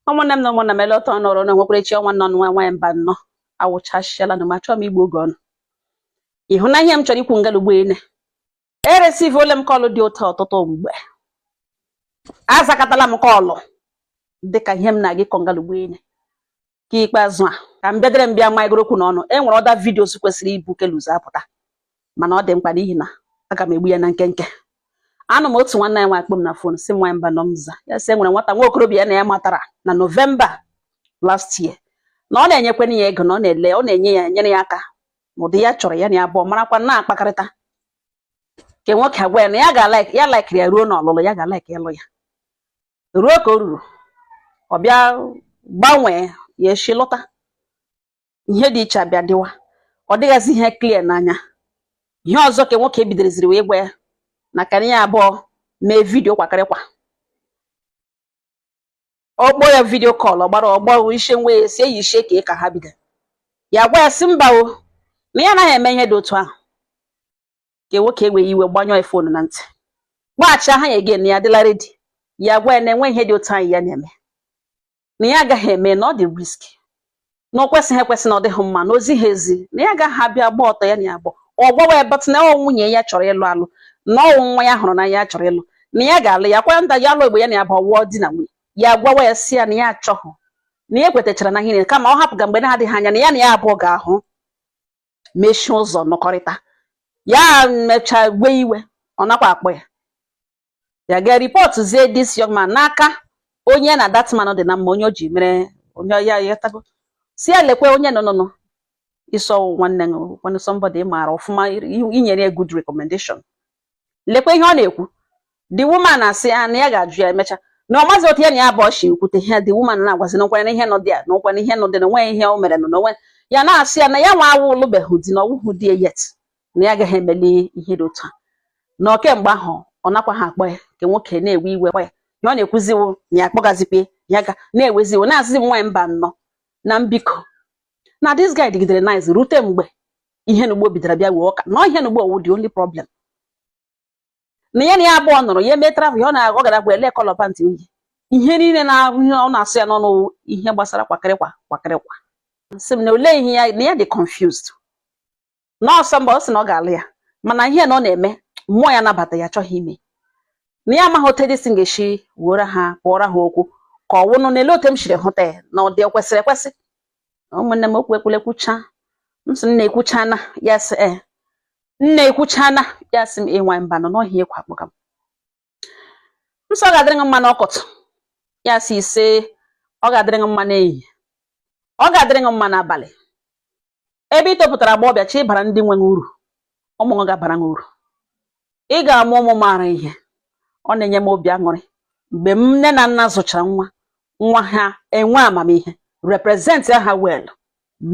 ụmụnne m na ụmụnna m eleta ọnụ ọrụ na-enwekwara echi ọ nwa unu nwa nwaanyị Mbano awụchasịala na ma chọọ m igbu oge unu ị hụ na ihe m chọrọ ikwu ngalugbo ene eresivuola m kọlụ dị otu a ọtụtụ mgbe azakatala m kọlụ dịka ihe m na-aga ịkọ ngalugbo ene nke ikpeazụ a ka m bịadere m bịa maịgoro okwu n'ọnụ e nwere other videos kwesịrị ibu nke a ụzọ apụta mana ọ dị mkpa n'ihi na aga m egbu ya na nkenke anọ m otu nwanne ya nwa akpọ m na fon sị nwa Mbano m za ya sị e nwere nwata nwa okorobịa ya na ya matara na November last year na ọ na-enyekwana ya ego na ọ na-ele ọ na-enye ya enyere ya aka n'ụdị ya chọrọ ya na ya abụọ marakwa na-akpakọrịta nke nwoke agwa ya na ya ga ya laikiri ya ruo n'ọlụlụ ya ga-alaiki ịlụ ya ruo ka o ruru ọ bịa gbanwee ya echi lọta ihe dị iche abịa dịwa ọ dịghịzi ihe clear n'anya ihe ọzọ ka nwoke bidoreziri wee gwa ya na ka ya abụọ mee vidio kwakịrịkwa ọ kpọọ ya vidio kọl ọ gbara ọgbọ ishe nwa ya si eyi ishe ka ka ha bido ya gwa ya sị mba o na ya anaghị eme ihe dị otu ahụ ka nwoke ewe iwe gbanyụọ ya fonu na ntị gbaghachi aha ya again ya adịla ready ya gwa ya na enwe ihe dị otu ahụ ya na-eme na ya agaghị eme na ọ dị risky na o kwesịghị ekwesị na ọ dịghị mma na o zighị ezi na ya agaghị abịa gba ọtọ ya na ya abụọ gbawa ya batụ na ọ nwunye ya chọrọ ịlụ alụ na ọ wụ nwa ya hụrụ na ya chọrọ ịlụ na ya ga-alụ ya kwa nda ya alụ egbe ya na ya abụọ wụọ di na nwunye ya gwawa ya sị ya na ya achọghị na ya ekwetachara na ihe niile kama ọ hapụga mgbe na-adịghị anya na ya na ya abụọ ga-ahụ mechie ụzọ nọkọrịta ya mecha ewe iwe ọ nakwa akpọ ya ya ga report zie this young man n'aka onye na that man dị na mma onye o ji mere onye ya ya tago sị ya lekwa onye nọ nọ nọ ị sị ọ nwanne gị nwanne somebody ị maara ọfụma i nyere ya good recommendation lekwa ihe ọ na-ekwu the woman asị ya na ya ga-ajụ ya emecha na ọ mazi otu ya na ya abụọ si ekwute ihe the woman na-agwazi na nkwanye na ihe nọ dị ya na nkwanye na ihe nọ dị na o nweghị ihe o mere na onwe ya na-asị ya na ya nwa awụ alụbeghị di na ọ wụhụ di ya yet na ya agaghị emeli ihe dị otu a na ọ kemgbe ahụ ọ nakwa ha akpọ ya nke nwoke na-ewe iwe kpọ ya na ọ na-ekwuziwo na ya akpọgazikwe ya ga na-ewezi iwe na-asịzi m nwaanyị Mbano na m biko na this guy dịgidere nice rute mgbe ihe na ugbo bidoro bịa wee ọka na ihe na ugbo ọ wụ the only problem na ya na ya abụọ nọrọ ya eme travel ya ọ na-agụ gara bụ ele color pantị o yi ihe niile na ọ na-asụ ya n'ọnụ ihe gbasara kwakịrịkwa kwakịrịkwa sị m na olee ihe ya na ya dị confused na ọsọ mgbe ọ sị na ọ ga-alụ ya mana ihe na ọ na-eme mmụọ ya nabata ya achọghị ime na ya amaghị otu edisi ga-esi wuoro ha kpụọrọ ha okwu ka ọ wụnụ n'ele otu m siri hụta ya na ọ dị ekwesịrị ekwesị ụmụnne m okwu ekwule kwucha m sị nna ekwuchana ya sị e nna ekwuchana ya sị m nwanyị Mbanọ n'ọhị ekwu akpọga m m sị ọ ga-adịrị gị mma n'ụtụtụ ya sị ise ọ ga-adịrị gị mma n'ehihie ọ ga-adịrị gị mma n'abalị ebe ị topụtara agbọghọbịa chi ị bara ndị nwe uru ụmụ gị ga-abara gị uru ị ga-amụ ụmụ maara ihe ọ na-enye m obi aṅụrị mgbe nne na nna zụchara nwa nwa ha enwe amamihe represent ha well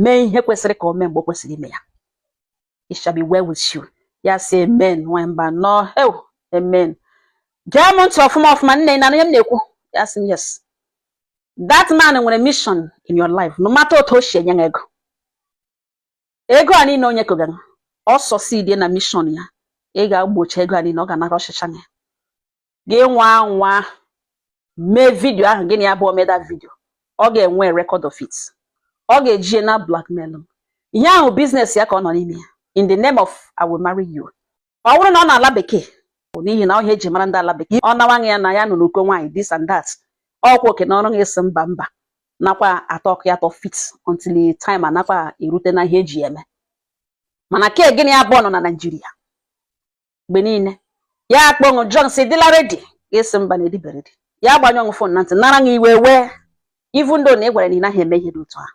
mee ihe kwesịrị ka o mee mgbe o kwesịrị ime ya it shall be well with you ya sị amen nwanyị Mbanọ heu amen gee m ntị ọfụma ọfụma nne na ihe m na-ekwu ya sị yes that man nwere mission in your life no matter otu o si enye ego ego a niile o nyekọgara ọ succeed na mission ya ị ga-agbọcha ego a niile ọ ga-anakọchịcha ya gị nwaa anwa mee video ahụ gị na ya abụọ mee that video ọ ga-enwe record of it ọ ga-eji na blackmail ihe ahụ business ya ka ọ nọ n'ime ya in the name of I will marry you ọ bụrụ na ọ nọ ala bekee bụ n'ihi na ọ ihe e ji mara ndị ala bekee ọ na-agwa gị ya na ya nọ n'ụkọ nwaanyị this and that ọkwa oke na ọrụ gị asị mba mba nakwa atọ ọkụ ya tọ fit until time anakwa erute na ihe eji eme mana ke gị na ya abụọ nọ na Nigeria mgbe niile ya akpọ nụ jụọ sị ị dịla ready gị asị mba na ị dịbe ready ya gbanyụọ phone na ntị nara gị iwe wee even though na ị gwara na ị naghị eme ihe dị otu ahụ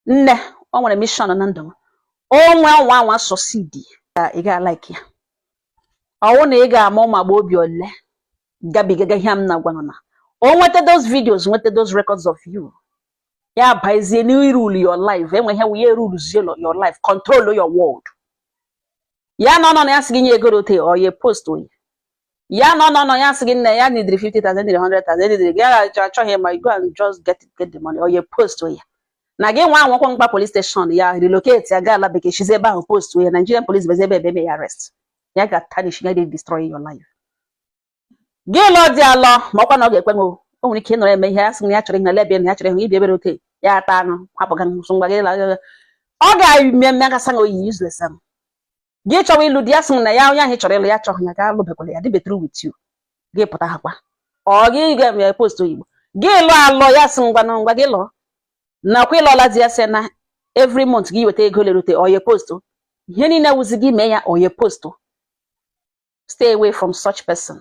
nne o nwere mission na ndụ m onwe ọ nwaa anwa succeed ka ị ga-alike ya ọ wụ na ị ga-ama ụmụ agbọghọbịa ole gabigaga ihe m na-agwanụ na o nweta those videos nweta those records of you ya bazie n'irule your life enweghị wụ ya erulezie your life control your world ya nọ nọ nọ ya sị gị nye ego rote or ya post ya ya nọ nọ nọ ya sị gị nne ya needịrị 50,000 needịrị 100,000 needịrị gị ya achọ- achọghị ịma you go and just get it, get the money or ya post ya na gị nwaa anwakwa gbaa police station ya relocate ya gaa ala bekee shizi ebe ahụ post ya Nigerian police bezi ebe ebe eme ya arrest ya ga tarnish ya dey destroy your life gị lụọ di alụọ ma ọkwa na ọ ga-ekwe nụ o nwere ike ịnọrọ eme ihe ya sị na ya chọrọ ihe na lebia na ya chọrọ ihe ibi ebere oke ya ata anụ hapụ ga nsụ ngwa gị la ọ ga-eme mmekasa na oyi useless am gị chọwa ịlụ di ya sị na ya onye ahụ chọrọ ịlụ ya chọghị ya gị alụbekwala ya dịbe through with you gị pụta ha kwa ọ gị ga-eme post oyibo gị lụọ alụọ ya sị ngwanụ ngwa gị lụọ nakwa ị lụọla di ya sị na every month gị weta ego lerute or ya post ihe niile wụzi gị mee ya or ya post stay away from such person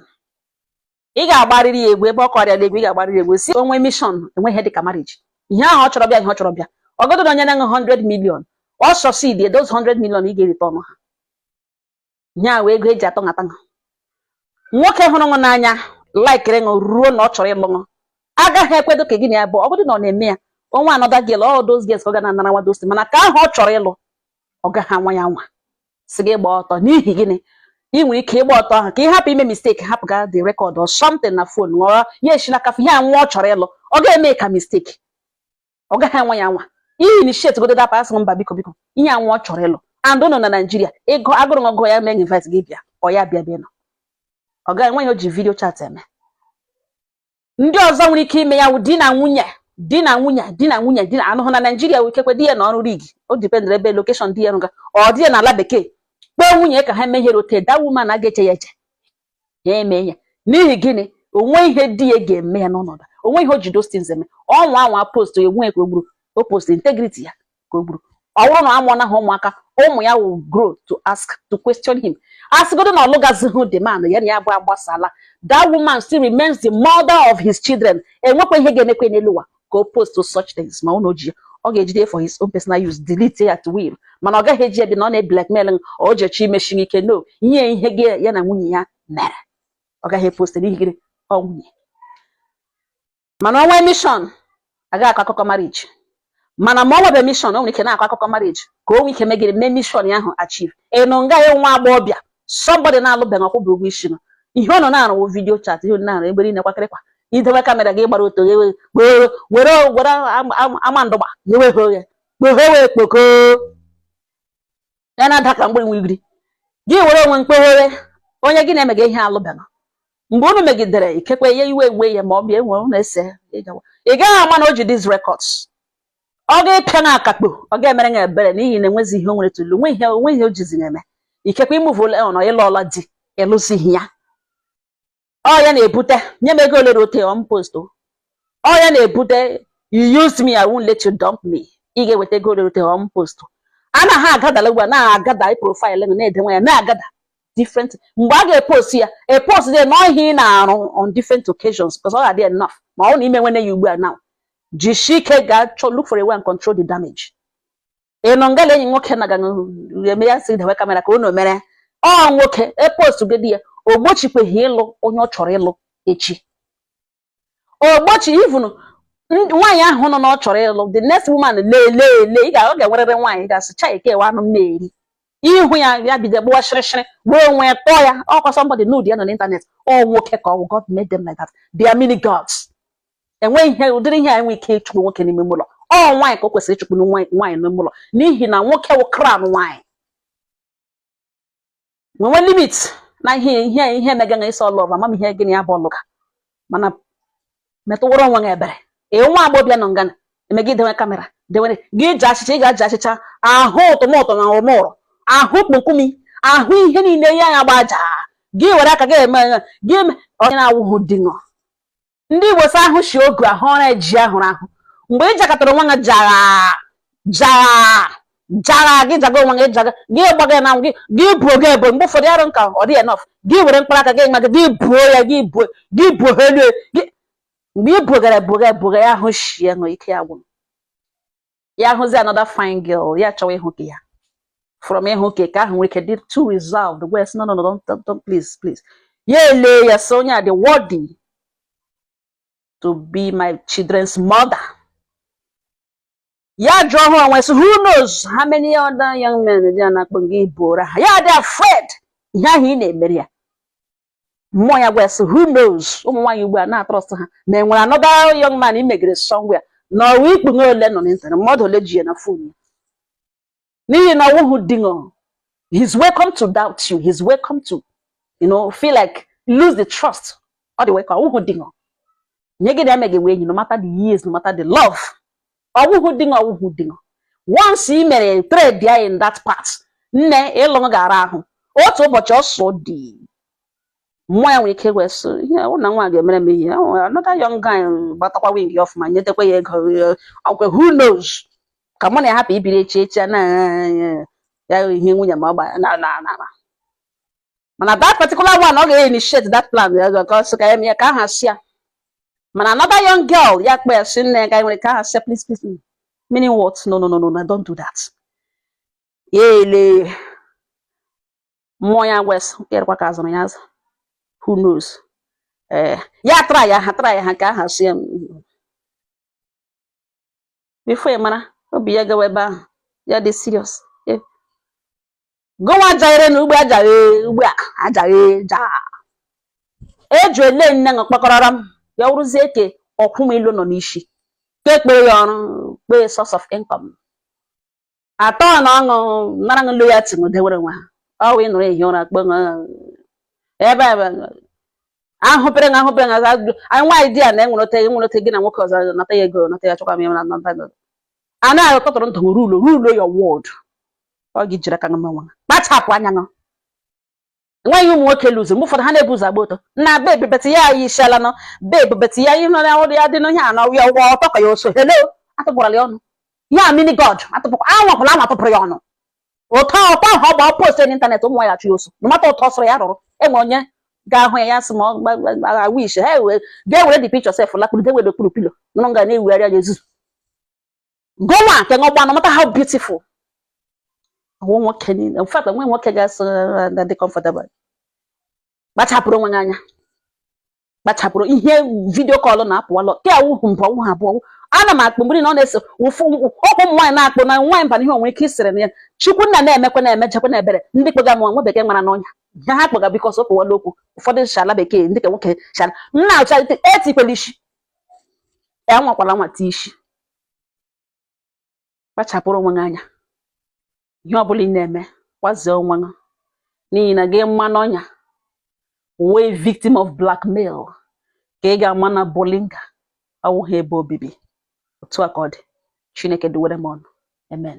ị ga-agbarịrị ya egwu ebe ọ kọrịa egwu ị ga-agbarịrị egwu si o nwe mishọn enweghị dịka marriage ihe ahụ ọ chọrọ bịa ihe ọ chọrọ bịa ọgọdụ na onye na-enwe 100 million ọ succeed those 100 million ị ga-erite ọnụ ha ihe ahụ ego eji atọ nhata nha nwoke hụrụ ṅụ n'anya laikiri ṅụ ruo na ọ chọrọ ịlụ ṅụ agaghị ekwedo ka gị na ya bụ ọgọdụ na ọ na-eme ya o nwee another girl all those girls ka ọ ga na-anara nwa those things mana nke ahụ ọ chọrọ ịlụ ọ gaghị anwa ya nwa sị gị gbaa ọtọ n'ihi gịnị ị nwere ike ịgba ọtọ ahụ ka ị hapụ ime misteki hapụga the record or something na fon ṅụ ya esi n'aka ihe anwa ọ chọrọ ịlụ ọ ga-eme ka misteki ọ gaghị anwa ya nwa ihe initiate godu dapa a sị mba biko biko ihe anwa ọ chọrọ ịlụ and ụnụ nọ na naijiria ị gụ agụụ ọ gụ ya mee invite gị bịa ọ ya bịa bịa nọ ọ gaghị enwe ihe o ji vidio chat eme ndị ọzọ nwere ike ime ya wụ di na nwunye di na nwunye di na nwunye di na-anọhụ na naijiria wụ ikekwe di ya nọ ọrụ rig ọ dipendere ebe lokeshọn di ya rụga ọ di ya nọ ala bekee kpọọ nwunye ka ha mee ihe rị ote that woman a ga-eche ya eche ya eme ya n'ihi gịnị o nwe ihe di ya ga-eme ya n'ọnọdụ o nwe ihe o ji those things eme ọ nwaa anwa post ya onwe ya ka o gburu ọ post integrity ya ka o gburu ọ bụrụ na a mụọna ha ụmụaka ụmụ ya will grow to ask to question him asịgodo na ọ lụgazighị the man ya na ya bụ agbasala that woman still remains the mother of his children enwekwa ihe ga-emekwa n'elu ụwa ka ọ post such things ma ọ na o ji ya ọ ga-ejide for his own personal use delete ya at will mana ọ gaghị eji ya bi na ọ na-eblackmail o jechi imechi ike no nye ihe gị ya na nwunye ya mere ọ gaghị epost n'ihi gịnị ọ nwunye mana o nwee mishọn agaghị akọ akụkọ mariji mana ma o nwebe mishọn o nwere ike na-akọ akụkọ mariji ka o nwee ike megide mee mishọn ya ahụ achieve ị nọ nga ya nwa agbọghọbịa sọmbọdị na-alụbeghị ọ kwụbeghị ụgwọ isi nọ ihe ọ nọ na-arụ wụ vidiyo chat ihe ọ nọ na-arụ ebe niile kwakịrịkwa i dewe kamera gị gbara ọtọ ghewe were were were ama ndụgba ghewe ha oghe kpoghe wee kpoko ya na-ada ka mgbịrị nwigiri gị were onwe ṅụ kpoghere onye gị na-emega ihe alụbeghị mgbe unu megidere ikekwe ya iwe ewe ya ma ọ bịa enwe unu ese ị gaghị ama na o ji these records ọ ga-epịa na akakpo ọ ga-emere ṅụ ebere n'ihi na enwezi ihe o nwere to lose nwe ihe o nwe ihe o jizi na-eme ikekwe ị muvụla on ị lụọla di ị lụzighị ya ọ ya na-ebute nye m ego ole na ote on post o. ọ ya na-ebute you use me I won't let you dump me ị ga-eweta ego ole na ote on post a na ha agadala ugbu a na-agada profaịlụ gị na-edewe ya na-agada different mgbe a ga-epost ya epost dị n'ihe ị na-arụ on different occasions because ọ ga-adị enough ma ọ na i menwene ya ugbu a now jisie ike gaa chọọ look for a way and control the damage ị nọ ngala enyi nwoke na ga eme ya si dewe kamera ka unu mere ọ nwoke epost gị di ya o gbochikweghị ịlụ onye ọ chọrọ ịlụ echi o gbochi even nwaanyị ahụ nọ na ọ chọrọ ịlụ the next woman lele ele ị ga-ọ ga-enwerịrị nwaanyị ga-asị cha eke ewe anụ m na-eri ihu ya ya bido gbuwa shịrịshịrị gbuo onwe ya tọọ ya ọkwa somebody nude ya nọ n'ịntanetị ọ nwoke ka ọ wụ God made them like that they are mini gods enweghị ihe ụdịrị ihe a enwe ike ịchụpụ nwoke n'ime ụlọ ọ nwaanyị ka o kwesịrị ịchụpụ nwaanyị n'ime ụlọ n'ihi na nwoke wụ crown nwaanyị nwenwe limit na ihe ihe ihe mega na ịsọ love ama m ihe gịnị ya bụ ọlụ ka mana metụwara onwe gị ebere ee nwa agbọbịa nọ nga na-eme gị dewe kamera dewere gị ji achịcha ị ga-aji achịcha ahụ ụtụmụtụ na ụmụrụ ahụ kpokumi ahụ ihe niile ya ya gbaja gị were aka gị eme gị onye na-awụghị di ṅụ ndị igbo sị ahụ shi ogu ahụ ọra e ji ahụrụ ahụ mgbe ị jakọtara onwe gị jara jara jara gị jaga onwe gị jaga gị gbaga na gị gị buo gị ebo mgbe ụfọdụ arụ nka ọ dị enough gị were mkpara aka gị nwa gị gị buo ya gị buo gị buo ha elu gị mgbe ị bugara buga buga ya ahụ shie ṅụ ike ya gwụrụ ya hụzi another fine girl ya chọwa ịhụ ka ya from ịhụ ka ka ahụ nwere ike dị too reserved wee sị no no no don't, don't, don't please please ya ele ya sị onye a dị worthy to be my children's mother ya jụọ ha onwe sị who knows how many other young men dị na-akpọ gị bụrụ ha ya dị afraid ihe ahụ ị na-emere ya mmụọ ya gwa ya sị who knows ụmụ nwaanyị ugbu a na-atrust ha ma e nwere another young man i megere somewhere na ọwa ikpughe ole nọ n'ịntanetị mmadụ ole ji ya na phone ya n'ihi na ọ wụhụ di ṅụ he's welcome to doubt you he's welcome to you know feel like lose the trust ọ dị wee ka ọ wụhụ di ṅụ onye gị na emeghị wee enyi no matter the years no matter the love ọ wụhụ di ṅụ ọ wụhụ di ṅụ once i mere trade ya in that part nne ịlụ ṅụ ga-ara ahụ otu ụbọchị ọsọ dị mmụọ ya nwere ike wee sị ihe ọ na nwa ga-emere m ihe ọ nwere another young guy gbatakwa win ya ọfụma nyetekwa ya ego eh, ọkwe who knows ka mụ na ya hapụ ibiri echi echi a na ya ihe nwunye ma ọ gba na na na na. mana that particular one ọ ga-initiate that plan because ka ya ka aha si ya mana another young girl ya kpe ya si nne ya ka nwere ka aha si please please meaning what no no no no no don't do that ya ele mmụọ ya wee sị ịrịkwa ka a zụrụ ya azụ who knows ee eh, ya tara ya ha tara ya ha ka aha si ya before ị mara obi ya gawa ebe ahụ ya dị serious gụnwa jaghere na ugbo ajaghe ugbo a ajaghe ja eju ele nne ṅụ kpakọrọrọ m ya wụrụzie ke ọkwụ m ilu nọ n'isi ka ekpere ya ọrụ kpee source of income atọ na ọṅụ nara ṅụ loyalty ṅụ dewere nwa ha ọ wụ ị nọrọ ehi ụra kpe ṅụ ebe ebe ahụpere ṅụ ahụpere ṅụ aza ajụjụ anyị nwaanyị di ya na enwere ote enwere ote gị na nwoke ọzọ nata ya ego nata ya chọkwa m ya na nata ego a na-akọtụrụ ndụ rule rule your world ọ gị jiri aka ṅụma nwa kpachapụ anya ṅụ nwaanyị ụmụ nwoke lụzi mgbe ụfọdụ ha na-ebu ụzọ agba ọtọ na bebi beti ya anyị isiala nọ bebi beti ya ihe nọrọ ọrụ ya dị n'ihe a na ya ụgwọ ọtọ ka ya oso hello atụpụrala ya ọnụ ya mini god atụpụkwa anwapụla anwa atụpụrụ ya ọnụ ụtọ ọtọ ahụ ọ gba post n'ịntanetị ụmụ ya chụ ya oso mata ụtọ sọrọ ya rụrụ enwe onye ga-ahụ ya ya sị ma ọ wish ha ga-ewere the picture sef lakpuru dewere okpuru pilo nọrọ nga na-ewugharị ya ezuzu gụnwa nke ṅụ gbaa no matter how beautiful ọ wụ nwoke niile in fact o nwe nwoke ga-asị na dị comfortable kpachapụrụ onwe gị anya kpachapụrụ ihe video call na-apụwalọ ke awụhụ mbụ ọ wụhụ abụọ ana m akpụ mgbe na ọ na-ese ụfụ okwu ụmụ nwaanyị na-akpụ na nwaanyị mba na ihe o nwe ike isere na ya chukwu nna na-emekwa na-emejekwa na ebere ndị kpega m nwa bekee mara n'ọnya ihe ha kpega because o kpowala okwu ụfọdụ shala bekee ndị ka nwoke shala nna ụchalite etikwela isi ya nwakwala nwata isi kpachapụrụ onwe gị anya ihe ọ bụla ị na-eme kwazie onwe gị n'ihi na gị maa n'ọnya wee victim of blackmail ka ị ga-ama na bolinga awụghị ebe obibi otu a ka ọ dị chineke duwere m unu amen